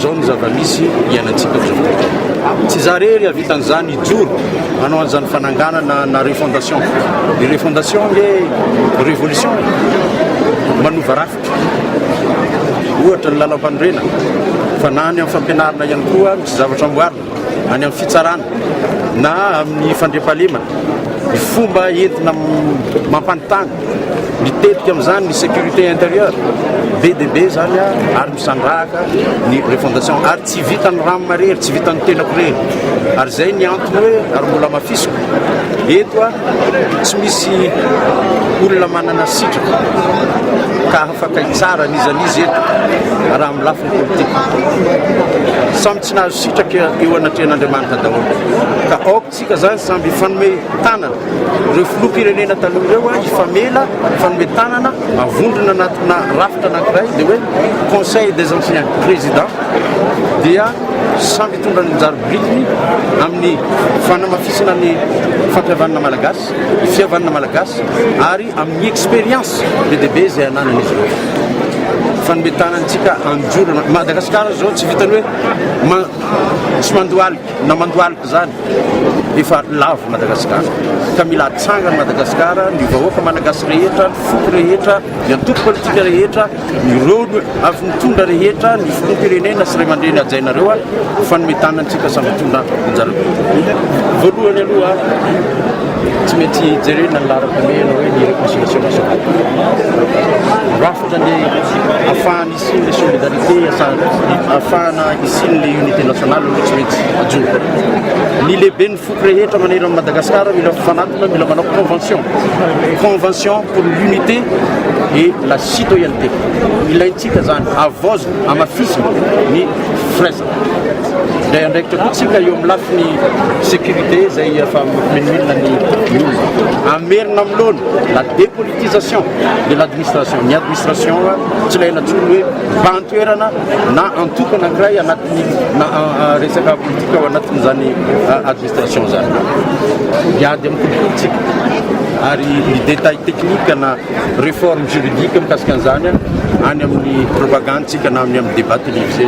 Izao no zava-misy iainantsika amin'izao fotoana izao. Tsy izaho irery hahavita an'izany, hijoro hanao an'izany fananganana na refondation. Ny refondation ange révolution e! manova rafitra. Ohatra ny lalam-panorenana, fa na any amin'ny fampianarana ihany koa misy zavatra amboarina. any amin'ny fitsarana na amin'ny fandriampahalemana ny fomba entina mampanontany mitetika amin'izany ny sécurité intérieure be dia be zany a ary misandrahaka ny refondation ary tsy vitan'ny rano marery tsy vitan'ny tenako rery ary izay ny antony hoe ary mbola mafisiko eto a tsy misy olona manana sitraka ka afaka hitsara an'izan'izy eto raha amin'ny lafiny politika Tsy nahazo sitraka eo anatrehan'Andriamanitra daholo. Ka aoka isika izany samy hifanome tanana. Ireo filoham-pirenena taloha ireo hifamela, hifanome tanana, avondrona anatina rafitra anankiray, dia hoe Conseil des anciens présidents, dia samy hitondra ny anjara birikiny amin'ny fanamafisana ny fampihavanana malagasy, ny fihavanana malagasy ary Amin'ny expérience be dia be izay ananan'izy ireo. Fanome-tanana antsika handorana. Madagasikara izao tsy vitan'ny hoe tsy mandohalika na mandohalika izany. Efa lavo Madagasikara. Ka mila atsangany Madagasikara, ny vahoaka malagasy rehetra, ny foko rehetra, ny antoko politika rehetra. Ireo avy nitondra rehetra ny filoham-pirenena sy raimandreny hajainareo ho fanome tanana antsika samy hitondra anjara toerana. Voalohany aloha tsy maintsy jerena ny laharam-pahamehana hoe ny réconciliation nationale. Rafitra ny afahana hisian'ilay solidarité, afahana hisian'ilay unité nationale aloha tsy maintsy hajoina. Ny lehiben'ny Foko rehetra manerana Madagascar mila mifanatona, mila manao convention. Convention pour l'unité et la citoyenneté. Ilaintsika zany, havaozina, hamafisina ny firaisana. Indray andraikitra koa tsika eo amin'ny lafiny sécurité izay efa mampimenomilona ny olona. Hamerina amin'ny laona la dépolitisation de l'administration. Ny administration tsy ilaina intsony hoe vahan-toerana na antoko anankiray anatin'ny na resaka politika ao anatin'izany administration zany hiady amin'ny kolikolintsika ary ny détail technique na réforme juridique mikasika an'izany any amin'ny propagande tsika na amin'ny amin'ny débat télévisé